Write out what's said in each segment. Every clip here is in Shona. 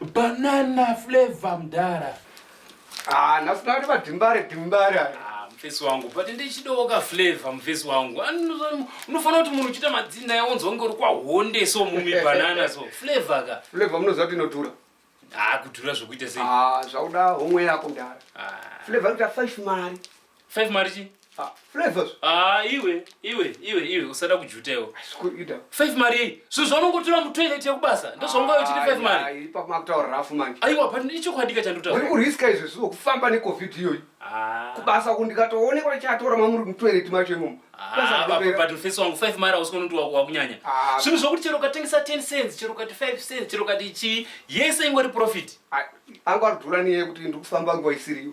Banana flavor mdara. Ah, nasina kuti vadimbare dimbare. Ah, mfesi wangu, but ndichidawo ka flavor mfesi wangu. Unofanira kuti munhu uchita madzinda yaonzwa kunge uri kwahonde so mumi banana so flavor ka. Flavor munoziva kuti inodhura. Ah, kudhura zvokuita sei? Ah, zvauda homwe yako mdara. Ah. Flavor inoita 5 mari. 5 mari chi ah, flavor ah iwe iwe iwe iwe usada kujuteo sikuida 5 mari so zvaunongotura mu toilet yekubasa ndozvaungayo chiti 5 mari ipa makutaura rafu manje aiwa but ndicho kwadika chanduta uri kuriska izvo zvo kufamba ne covid iyo ah kubasa ku ndikatoone kwa chatora mamuri mu toilet macho imomo ah but but face wangu 5 mari usikono ndi wako wakunyanya ah. zvinhu zvokuti chero katengisa 10 cents chero kati 5 cents chero kati chi yese ingori profit ah angwa dhura niye kuti ndikufamba ngwa isiriyo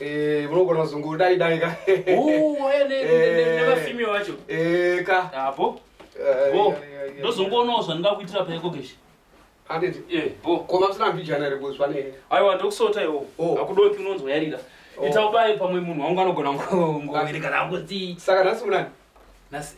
Eh, munogona kuzunguru dai dai ka. Oh, eh, ne ne ne vafimi vacho. Eh, ka. Apo. Ah, bo. Eh, Ndozongoona zvandinga kuitira payeko keshi. Anditi. Eh, bo. Koma msina mbijana iri kuzwa ne. Aiwa ndokusota iwo. Oh. Akudoki unonzwa yarira. Oh. Ita ubaye pamwe munhu wangu anogona ngowereka rangu. Saka nhasi munani? Nasi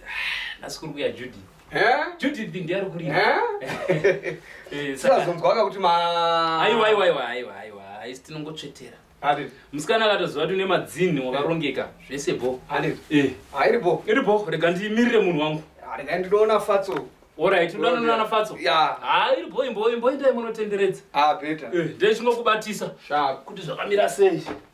nasi kuri kuya Judy. Eh? Judy ndi ndiari kuri. Eh? Eh, saka zonzwa ka kuti ma Aiwa aiwa aiwa aiwa aiwa. Aisi tinongotsvetera. Ade. Musikana akatoziva kuti une madzinhi wakarongeka zvese bo. Ade. Eh. Airi bo. Iri bo rega ndimirire munhu wangu. Rega ndinoona fatso. Alright, unoona nana fatso. Yeah. Ah, iri bo imbo imbo indai munotenderedza. Ah, better. Eh, ndechingokubatisa. Sharp. Kuti zvakamira sei?